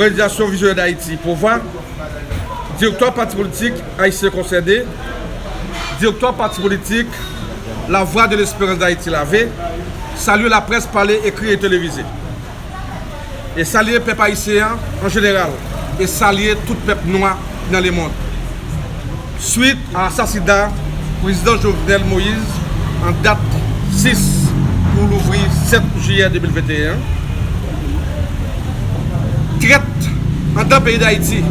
Òganizasyon Vizyonè Dayiti, Pova, Direktwa pati politik Ayisyen Konsène, Direktwa pati politik La Vwa de Lesperans Dayiti, LAV, salye laprès pale, ekri e televize. E salye pèp ayisyen an, an jeneral, e salye tout pèp nwa ki nan lemond. Swit a asasina Prezidan Jovenel Moïse an dat 6 pou louvri 7 jiyè 2021, trèt andan peyi Dayiti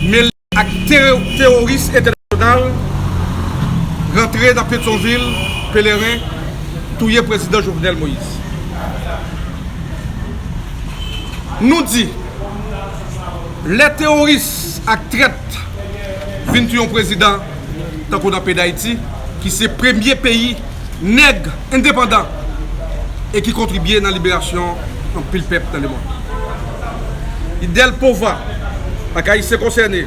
mele ak teworis entènasyonal rantre nan Petyonvil Pelerin touye Prezidan Jovenel Moïse. Nou di. Lè teworis ak trèt vin sou yon prezidan tankou nan peyi Dayiti ki se premye peyi nèg endepandan e ki kontribye nan liberasyon anpil pèp nan lemond. Idèl pova ak Ayisyen konsène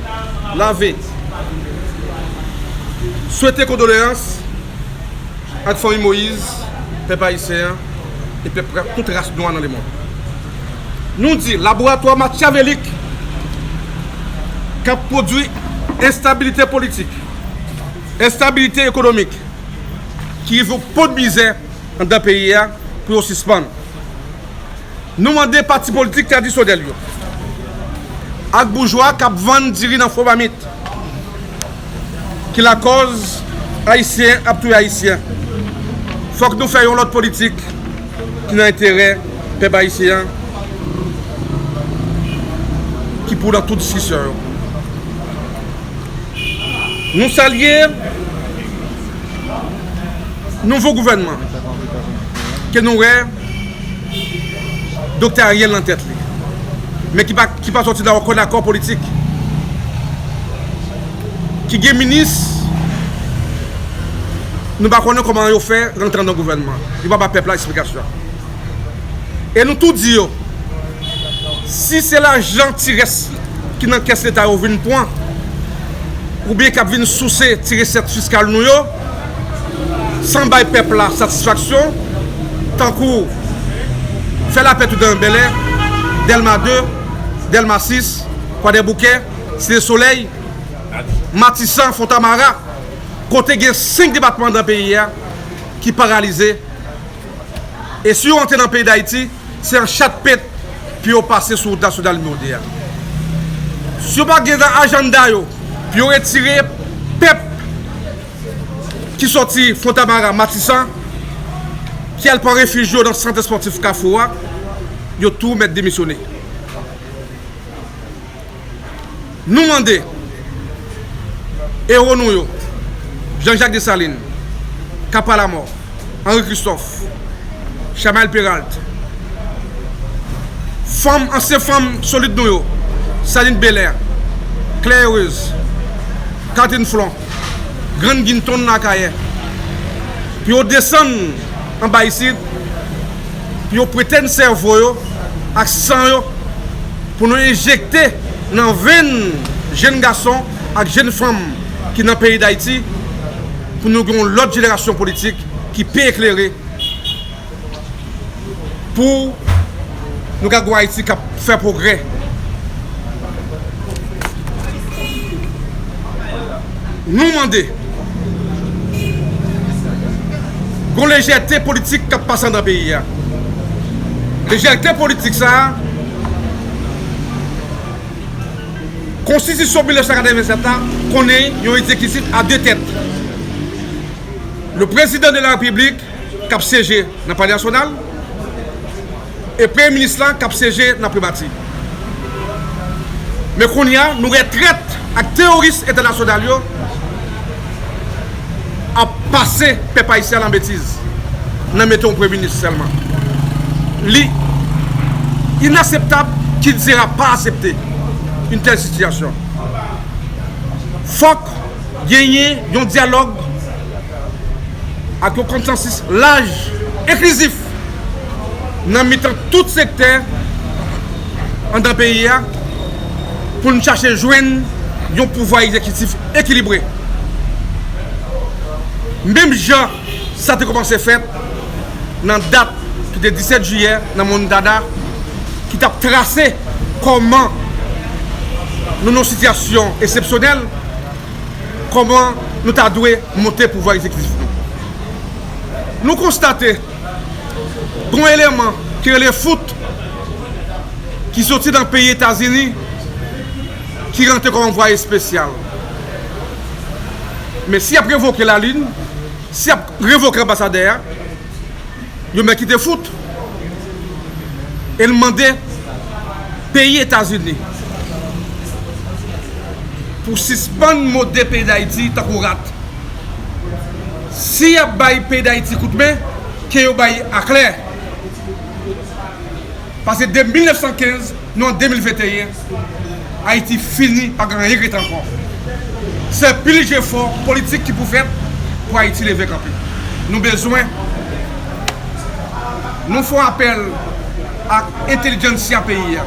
lave swete kondoleyans ak fanmi Moïse, pèp Ayisyen an e pèp tout ras nwa nan lemond. Nou di laboratwa makyavelik k ap pwodui enstabilite politik, enstabilite ekonomik ki rive yon pòt mizè anndan peyi a pou yo sispann. Nou mande pati politik tradisyonèl yo ak boujwa k ap vann diri nan fo mamit ki lakòz Ayisyen ap touye Ayisyen, fòk nou fè yon lòt politik. ki nan enterè pèp ayisyen an ki pou nan tout diskisyon yo. Nou salye nouvo gouvènman ke nou wè Doktè Ariel nan tèt li men ki pa sòti nan okenn akò politik. ki gen minis nou pa konnen kòman yo fè rantre nan gouvènman yo pa ba pèp la esplikasyon e nou tou di yo si se lajan ti rès ki nan kès leta yo vin pwan oubyen kap vin souse ti resèt fiskal nou yo san bay pèp la satisfaksyon tankou fè lapè tout dan yon bèlè dèlma 2 dèlma 6 kwadèboukè Site Solèy, Matisan, Fontamara, kote gen 5 depatman andan peyi a ki paralize e si yo antre nan peyi Dayiti se an chat pent pou yo pase sou wout nasyonal nimewo 2 a. Si yo pa gen nan ajanda yo pou yo retire pèp ki sòti Fontamara, Matisan ki al pran refij yo nan sant espòtif Kafou a, yo tou mèt demisyone. Nou mande Ewo nou yo, Jean Jacques Dessalines, Capa la Mort, Henri Christophe, Chamael Peralt, Fanm, ansyen fanm solid nou yo, Saline Belair, Claire Heureuse, Catherine Flon, Grann Ginton nan Akayè, pou yo desann anba isit, Yo prete n sèvo yo ak san yo pou nou enjekte nan venn jenn gason ak jenn fanm ki nan peyi Dayiti pou nou gen yon lòt jenerasyon politik ki pi eklere pou nou ka gen yon Ayiti k ap fè pwogrè. Nou mande, gon lejète politik kap pase andan peyi a. Lejète politik sa a, konstitisyon 1987 la konnen yon egzekisif a 2 tèt. Le prezidan de la repiblik kap syeje nan palè nasyonal. e premye minis la kap syeje nan primati men kounya nou wè trèt ak teworis entènasyonal yo ap pase pèp ayisyen an lan betiz nan mete yon premye minis sèlman li inaseptab kilti a pa asepte yn tèl sitiyasyon fòk genyen yon dyalòg ak yon konsansis laj enklizif. nan mitan tout sektè anndan peyi a pou n chache jwenn yon pouvwa egzekitif ekilibre. Menm jan sa te kòmanse fèt nan dat ki te 17 jiyè nan Mòn Dada ki t ap trase kòman nou nan yon sitiyasyon esepsyonèl, kòman nou ta dwe monte pouvwa egzekitif nou. nou konstate gon eleman ki rele fout ki soti nan peyi Etazini ki rantre kòm anvwaye espesyal. Men si yap revoke Lalin, si yap revoke anbasadè a, yo mèt kite fout e l mande peyi Etazini pou sispann mode peyi Dayiti tankou rat. Si yap bay peyi dayiti kout men ke yo bay aklè pase de 1915 nou an 2021 ayiti fini pa gen anyen ki ret ankò se pil jefò politik ki pou fèt pou ayiti leve kanpe nou bezwen nou fon apèl ak entelijantsia peyi a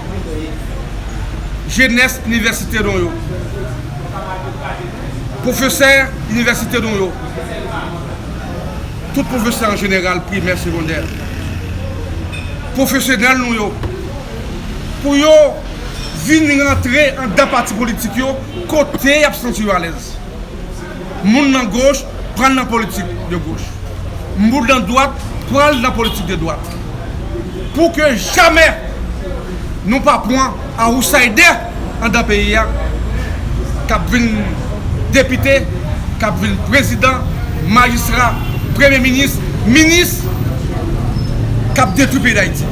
jenès inivèsite nou yo. Pwofesè inivèsite nou yo, tout pwofesè an jeneral primè, segondè, pwofesyonèl nou yo, pou yo vin rantre andan pati politik yo kote y ap santi yo alèz. Moun nan goch, pral nan politik de goch. Mboul dan dwat pral nan politik de dwat. Pou ke jamè nou pa pwan awousaydè andan peyi a k ap vin depite, k ap vin prezidan, majistra, premye minis, minis k ap detwi peyi Dayiti.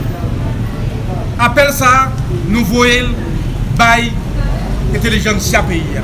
Apèl sa a nou voye l bay entelijansya peyi a.